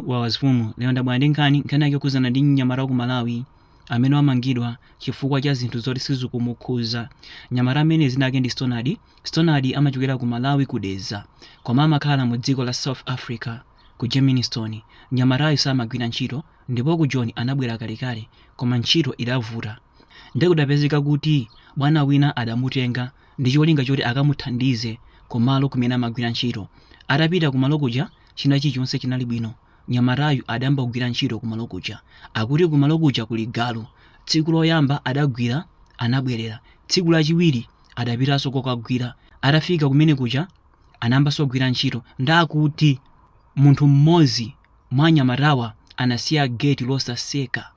Wawa azifumu lero ndabwera ndi nkhani nkhani yake yokhudzana ndi mnyamata wa ku malawi amene wamangidwa chifukwa cha zinthu zoti sizikumukhuza mnyamata amene dzina lake ndi stonard stonard amachokera ku malawi ku Dedza koma amakhala mu dziko la south africa ku germiston mnyamatayo samagwira ntchito ndipo ku Joni anabwera kalekale koma ntchito idavuta ndiye kudapezeka kuti bwana wina adamutenga ndi cholinga choti akamuthandize kumalo kumene amagwira ntchito atapita kumalo kuja china chilichonse chinali bwino. Mnyamatayu adayamba kugwira ntchito kumalo kuja. Akuti kumalo kuja kuli galu. Tsiku loyamba adagwira anabwerera. Tsiku lachiwiri adapitanso kokagwira. Atafika kumene kuja anayambanso kugwira ntchito. Nde akuti munthu mmodzi mwa anyamatawa anasiya geti losatseka.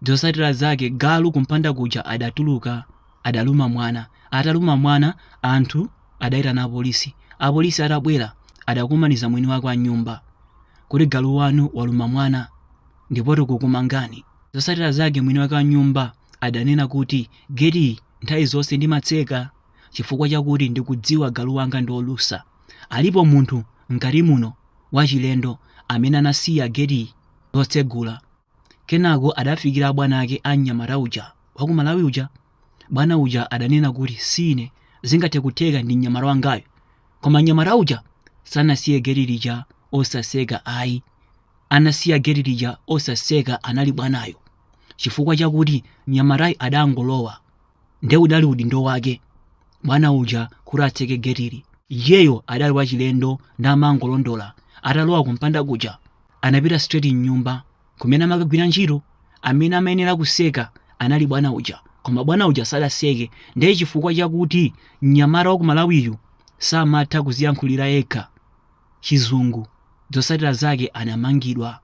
zotsatira zake galu kumpanda kuja adatuluka adaluma mwana ataluma mwana anthu adayitana apolisi apolisi atabwera adakumaniza mwini wake wa nyumba kuti galu wanu waluma mwana ndipo tikukumangani zotsatira zake mwini wake wa nyumba adanena kuti geti nthawi zonse ndimatseka chifukwa chakuti ndikudziwa galu wanga ndi olusa alipo munthu mkati muno wachilendo amene anasiya geti lotsegula kenako adafikira abwana ake a mnyamata uja wa ku malawi uja bwana uja adanena kuti sine zingathe kutheka ndi mnyamata wangayo koma mnyamata uja sanasiye geti lija osatseka ayi anasiya geti lija osatseka anali bwanayo chifukwa chakuti mnyamatayo adangolowa nde udali udindo wake bwana uja kuti atseke getili iyeyo adali wachilendo nde amangolondola atalowa kumpanda kuja anapita straight mnyumba kumene amakagwira ntchito amene amayenera kutseka anali bwana uja koma bwana uja sadatseke ndiye chifukwa chakuti mnyamata wa ku Malawiyu samatha kuziyankhulira yekha chizungu zotsatira zake anamangidwa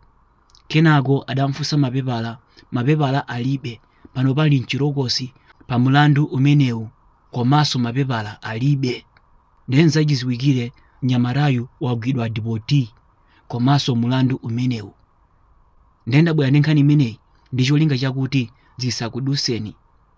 Kenako adamfunsa mapepala, mapepala alibe, panopa ali mchitokosi pa mlandu umenewu komanso mapepala alibe nde nzachiziwikire mnyamatayu wagwidwa dipoti komanso mlandu umenewu nde ndabwera ndi nkhani imeneyi ndicholinga chakuti zisakuduseni.